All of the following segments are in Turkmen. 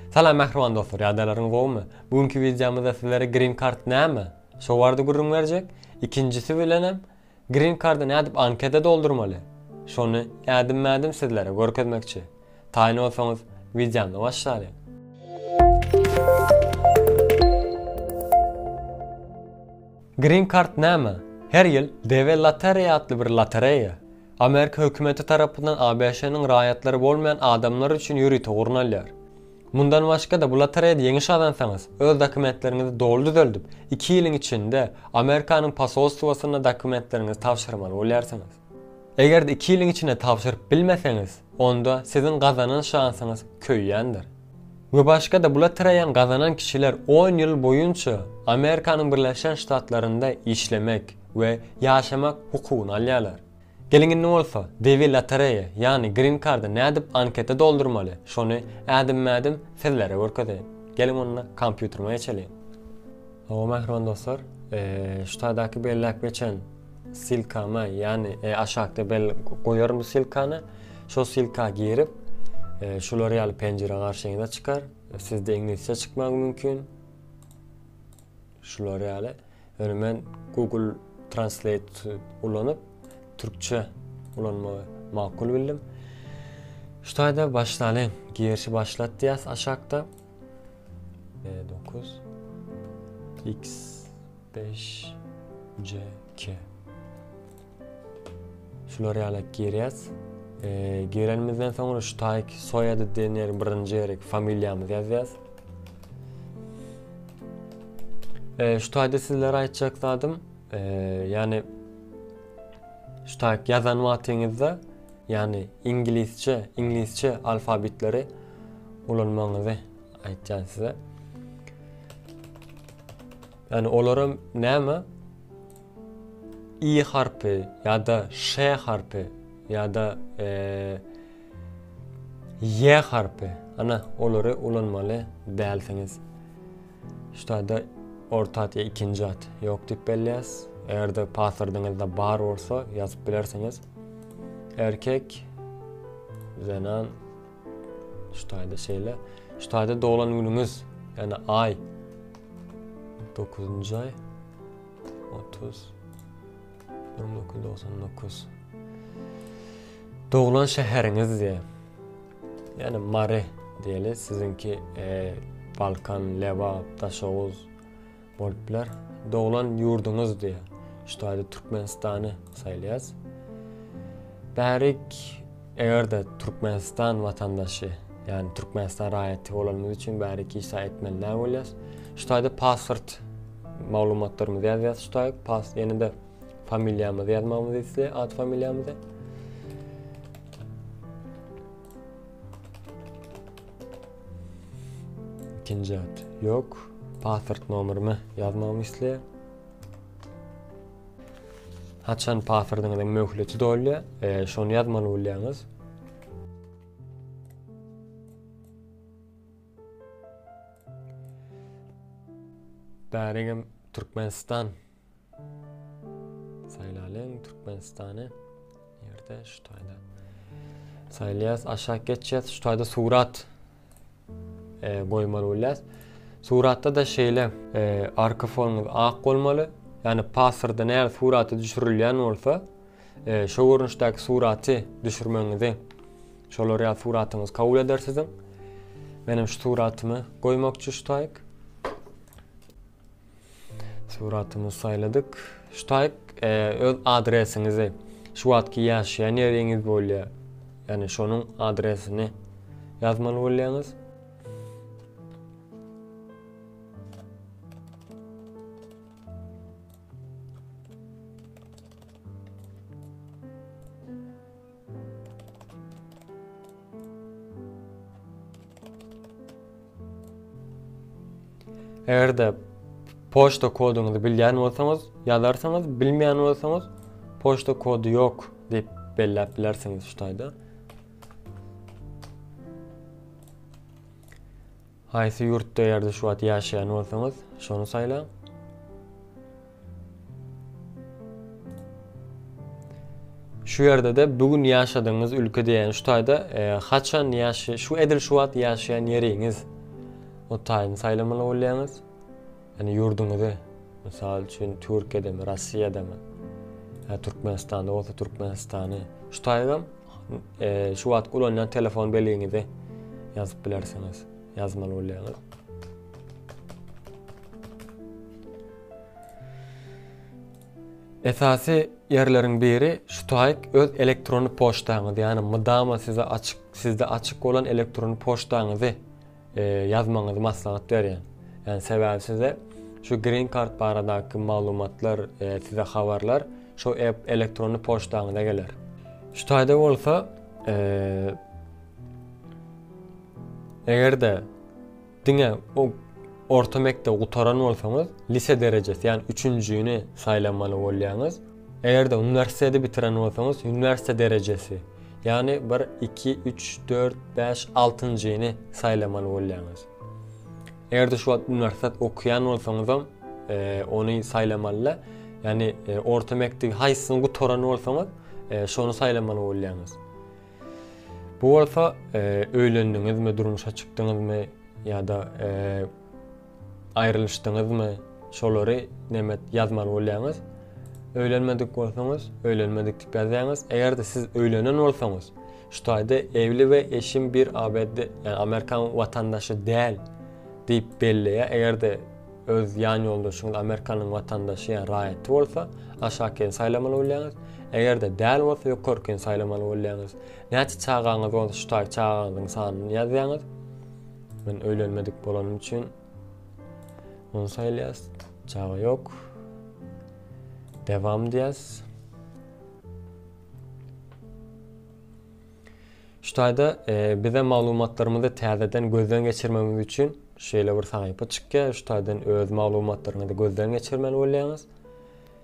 Salam mähriban dostlar ýagdaýlaryňyz gowumy? Bu günki wideomyzda sizlere Green Card näme? Şo barada gürrüň berjek. Ikinjisi bilenem Green Card-a nädip anketa doldurmaly? Şony ädim-mädim sizlere görkezmekçi. Taýyn bolsaňyz wideomyza başlalyň. Green Card näme? Her ýyl DW Lottery atly bir lotereýa Amerika hökümeti tarapyndan ABŞ-nyň raýatlary bolmaýan adamlar üçin ýörite gurnalýar. Mundan başga-da, bu lotereýada ýeňiş gazansaňyz, öz dokumentleriňizi doly düzeldip, iki ýylyň içinde Amerikanyň posolstwasyna dokumentleriňizi tabşyrmaly bolýarsyňyz. Eger-de iki ýylyň içinde tabşyryp bilmeseňiz, onda siziň gazanan şansyňyz köýýändir. We başga-da bula tiraýan gazanan kişiler on ýyl boýunça Amerikanyň Birleşen Ştatlarynda işlemek we ýaşamak hukugyny alýarlar. Geliň indi bolsa Dewi Lotereýa ýagny Green Card-a nädip anketa doldurmaly şony ädim-mädim sizlere görkezeýin. Geliň onda kompýuterime geçeliň. Hawa mähriban dostlar, şu taýdaky belläp geçen silkama, ýagny aşakda bel goýaryn bu silkany. Şo silka girip, şular ýaly penjire garşyňyza çykar. Sizde iňlisçe çykmagy mümkin. Şular ýaly. Ýöne men Google Translate ulanyp, türkçe ulanmagy makul bildim. Şu taýda başlalyň. Girişi başlat diýýäs aşakda. B9 X5 C2 Şular ýaly girýäs. E, girenimizden soňra şu taýk soýady diýen ýeri birinji ýeri familiýamyzy ýazýas. E, şu taýda sizlere aýtjak zadym, e, ýagny şu taýk ýazan wagtyňyzda ýagny iňlisçe, iňlisçe alfabetleri ulanmagyňyzy aýtýan size. Ýagny olaram näme? i harpy ýa-da ş harpy ýa-da eee Y harpy. Ana, olary ulanmaly dälsiňiz. Ştada orta at ýa ikinji at ýok diýip belleýäs. Eger-de paswordyňyzda bar bolsa ýazyp bilersiňiz. Erkek zenan ştada şeýle. Ştada doglan günüňiz, ýani aý 9-njy aý 30 1999 Doglan şäheriňiz diýýär. Yani mare diyeli sizinki e, Balkan, Lebap, Daşoguz bolup biler. Doglan yurduňuz diye. Şu adi Türkmenistan'ı saylayaz. Bärik eger de Türkmenistan vatandaşı yani Türkmenistan raýaty bolanymyz üçin bärik hiç zat etmeli näme bolýas. Şu taýda pasport maglumatlarymyzy ýazýas şu taýda pas ýene-de Familiýamyzy ýazmagymyzy isleýär, at familiýamyzy. Ikinji at. Ýok. Pasport nomerymy ýazmagymy isleýär. Haçan pasportyňyzyň möhleti dolýar, e, şony ýazmaly bolýaňyz. Bäregem Türkmenistan Saýlalyň Türkmenistany ýerde şu taýda. Saýlaýas aşak geçýäs şu taýda surat e, goýmaly bolýas. Suratda da şeýle e, arka fonuňyz ak bolmaly. Ýani paswyrda näme suraty düşürilýän bolsa, e, şo görnüşdäki suraty düşürmegiňizi şolar ýa suratyňyz kabul eder siziň. Menem şu suratymy goýmakçy şu taýyk. Suratymyzy saýladyk. Ştaýk e, öz adresiňizi, şu wagtky ýaşaýan ýeriňiz bolýar. Ýani şonuň adresini ýazmaly bolýaňyz. Eger-de poçta koduňyzy bilýän bolsaňyz, ýazarsyňyz, bilmeýän bolsaňyz, poçta kody ýok diýip belläp bilersiňiz şu taýda. Haýsy ýurtda ýa-da şu wagt ýaşaýan bolsaňyz, şony saýlaň. Şu ýerde-de bu gün ýaşadygyňyz ülke diýýän şu taýda haçan ýaşa şu edil şu wagt ýaşaýan ýeriňiz o taýyny saýlamaly bolýaňyz. Ýani ýurduňyzy, mysal üçin Türkiýedemi, Rossiýadamy, ýa Türkmenistanda bolsa Türkmenistany, şu taýygam şu wagt ulanýan telefon beliňizi ýazyp bilersiňiz, ýazmaly bolýaňyz. Esasy ýerleriň biri şu taýyk öz elektron poçtaňyzy, ýani mydama size açyk, sizde açyk bolan elektron poçtaňyzy ýazmagyňyzy maslahat berýän. Ýani sebäbi size şu green card baradaky maglumatlar size habarlar şu elektronny poçtaňyza geler. Şu taýda bolsa eger-de diňe o orta mekdebi gutaran bolsaňyz lise derejesi ýani üçünjini saýlamaly bolýaňyz. Eger-de uniwersiteti bitiren bolsaňyz, uniwersite derejesi, ýagny bir, iki, üç, dört, bäş, altynjyny saýlamaly bolýaňyz. Eger-de şu wagt uniwersitet okaýan bolsaňyzam, ony saýlamaly-da, ýagny orta mekdebi haýsysyny gutaran bolsaňyz, şony saýlamaly bolýaňyz. Bu bolsa, öýlendiňizmi, durmuşa çykdyňyzmy ýa-da Aýrylyşdyňyzmy? Şolary nemet ýazmaly bolýaňyz? Öýlenmedik bolsaňyz, öýlenmedik diýip ýazýaňyz. Eger-de siz öýlenen bolsaňyz, şu taýda Evli we eşim bir ABD, ýagny Amerikan watandaşy däl diýip belleýär. Eger-de öz ýan ýoldaşyňyz Amerikanyň watandaşy, ýagny raýaty bolsa, aşakyny saýlamaly bolýaňyz. Eger-de däl bolsa, ýokarkyny saýlamaly bolýaňyz. Näçe çagaňyz bolsa, şu taýda çagaňyzyň sanyny ýazýaňyz. Men öýlenmedik bolanym üçin onu saýlaýas. Çaga ýok. Devam diýäs. Şu taýda e, bize maglumatlarymyzy täzeden gözden geçirmegimiz üçin şeýle bir sahypa çykýar. Şu taýdan öz maglumatlaryňyzy gözden geçirmeli bolýaňyz.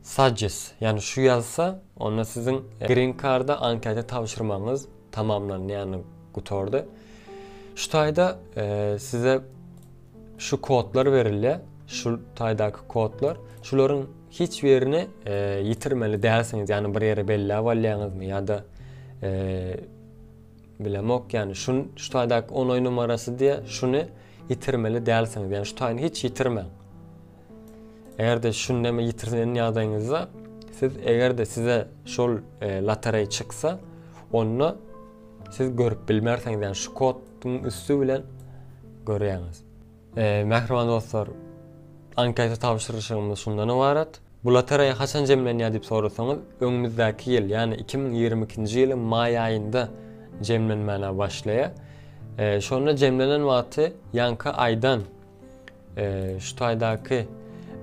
Sajys, ýagny şu ýazsa, onda siziň Green Card-a anketa tabşyrmagyňyz tamamlandy, ýagny gutardy. Şu taýda size şu kodlar berilýär, şu taýdaky kodlar. Şularyň hiç birini ýitirmeli dälsiňiz, ýagny bir ýere belläp alýaňyzmy ýa-da bilemok, ýagny şu taýdaky onoý numarasy diýýär, şuny ýitirmeli dälsiňiz, ýagny şu taýyny hiç ýitirmäň. Eger-de şundamy ýitirlen ýagdaýyňyzda siz eger-de size şol e, lotereý çyksa, onda siz görüp bilmersiňiz, ýagny şu kodyň üsti bilen görýäňiz. E, mähriban dostlar, anketa tabşyryşygymyz şundan ybarat. Bu lotereýa haçan jemlenýär diýip sorasaňyz, öňümizdäki ýyl, ýagny 2022-nji ýylyň maý aýynda jemlenmäne başlaýar. E, şonda jemlenen wagty ýanky aýdan Şu taýdaky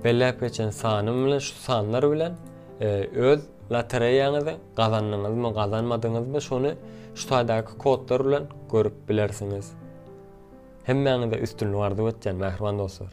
belläp geçen sanym bilen şu sanlar bilen öz lotereýaňyzy gazandyňyzmy, gazanmadyňyzmy şony şu taýdaky kodlar bilen görüp bilersiňiz. Hemmäňize üstünlik arzuw etýän mähriban dostlar.